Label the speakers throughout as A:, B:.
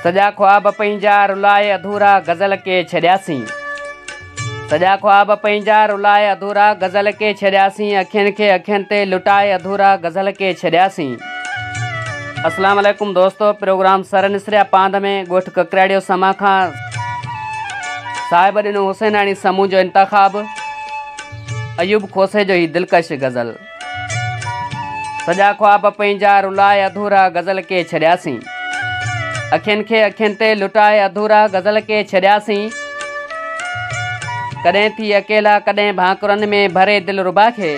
A: سڄا خواب پنهنجا رلائي اڌورا غزل ڪي ڇڏياسين سڄا خواب پنهنجا رلائي اڌورا غزل ڪي ڇڏياسين اکين کي اکين تي لٽائي اڌورا غزل ڪي ڇڏياسين السلام عليڪم دوستو پروگرام سر نسريا پاند ۾ ڳوٺ ڪڪراڙيو سما کان صاحب ڏنو حسيناڻي سمون جو انتخاب ايوب کوسي جو هي دلڪش غزل سڄا خواب پنهنجا رلائي اڌورا غزل ڪي ڇڏياسين اکين کي اکين تي لٽائي اڌورا غزل ڪي ڇڏياسين ڪڏهن ٿي اڪيلا ڪڏهن ڀانڪرن ۾ ڀري دل ربا کي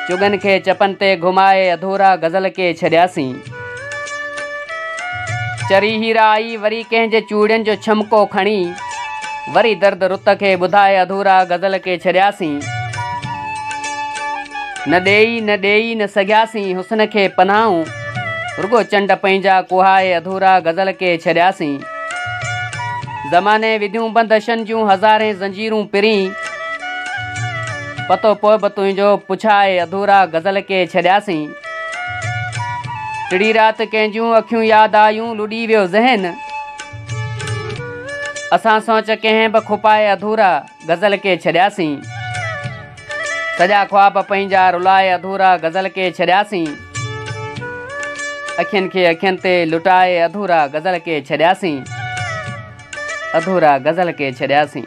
A: چگن کي چپن تي گهمائي اڌورا غزل ڪي ڇڏياسين چري هيرا آئي وري ڪنهن جي چوڙين جو ڇمڪو کڻي وري درد رت کي ٻڌائي اڌورا غزل ڪي ڇڏياسين نه ڏيئي نه ڏيئي نه سگهياسين حسن کي پناهون رڳو چنڊ پنهنجا ڪوهائي اڌورا غزل ڪي ڇڏياسين زماني وڌيون بندشن جون هزارين زنجيرون پرين پتو پوء به تنهنجو پڇائي اڌورا غزل ڪي ڇڏياسين ٽڙي رات ڪنهن جون اکيون ياد آيون لڏي ويو ذهن اسان سوچ ڪنهن به کپائي اڌورا غزل کي ڇڏياسين سڄا خواب پنهنجا رلائي اڌورا غزل کي ڇڏياسين اکين کي اکين تي لٽائي اڌورا غزل کي ڇڏياسين اڌورا غزل کي ڇڏياسين